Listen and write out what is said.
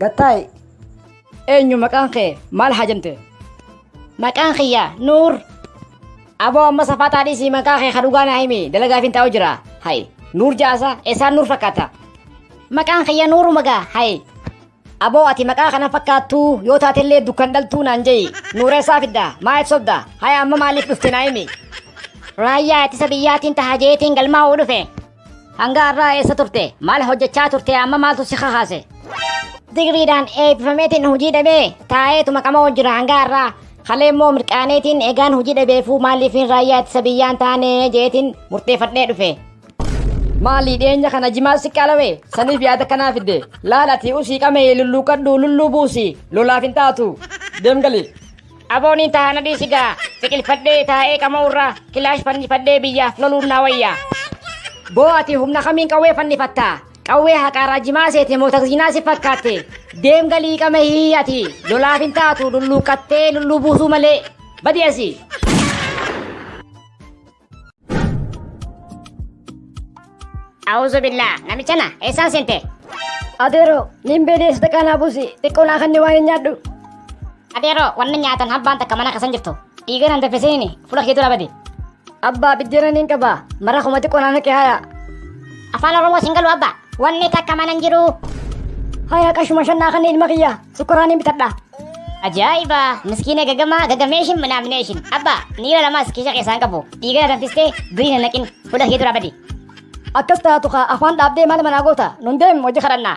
Gattaay eenyu maqaan kee maal haa jente? Maqaan kiyya Nuur. Aboo amma safaataa dhiisii maqaa kee ka dhugaa naa himi dalagaaf hin taa'u jira. Hayi Nuur jaasa eessaan Nuur fakkaata? Maqaan kiyya Nuuru magaa hayi. Aboo ati maqaa kana fakkaattuu yoo taatellee dukkan dhaltuu naan je'i. Nuureessaa fidda maa itti sobda haya amma maaliif dhufte naa himi. Raayyaa ittisa biyyaatiin taha jeetiin galmaa'uu dhufe. Hanga har'aa eessa turte? Maal hojjechaa turte? Amma maaltu si kakaase? Digriidhaan eebbifameetiin hojii dhabee taa'eetuma qama'oo jira hanga har'aa. Halee immoo mirqaaneetiin egaan hojii dhabeefuu maaliifiin raayyaa ittisa biyyaan taanee jeetiin murteeffadhee dhufe. Maalii dhiyeenya kana jimaa si qalawe saniif yaada kanaa fidde laal ati usii qamee lulluuqadhu lulluu buusi lolaaf hin taatu deemgali. Abooniin tahaa na dhiisi gaa biqilfadhee taa'ee qama'uu irraa kilaash fannifadhee biyyaaf loluun naa wayya. Boo ati humna kamiin qawwee fannifatta? Qawwee haqaa raajimaa seete moo takziinaa si fakkaatte? Deem galii qama hii ati lolaaf hin taatu lulluuqqattee lulluu buusuu malee. Badi asi! A'uuzu billaa namichana eessaan seente? Adeeroo, niin beelii sadaqaa naa buusi, xiqqoo naa kanni waan hin nyaadhu. Adeeroo wanni nyaatan habbaan takka mana kasan jirtu. Dhiiga nan daffisiini fuula kee dura badi. Abbaa biddeena niin qaba, mara kuma xiqqoo naa naqe haya. Afaan Oromoo sin galu abba. Wanni takka mana hin jiru. Haya qashuma shan naa kanni ilma kiyya. Sukkuraan hin bitadha. Ajaa'iba! Miskiina gagamaa gagameeshin minaamineeshin. Abba, niira lamaas kiisha keessaan qabu. Dhiigana danfistee durii hin naqin. Fuula kee dura badi. Akkas taatu kaa afaan dhaabdee maal manaa goota? Nun deem hojii kadhannaa.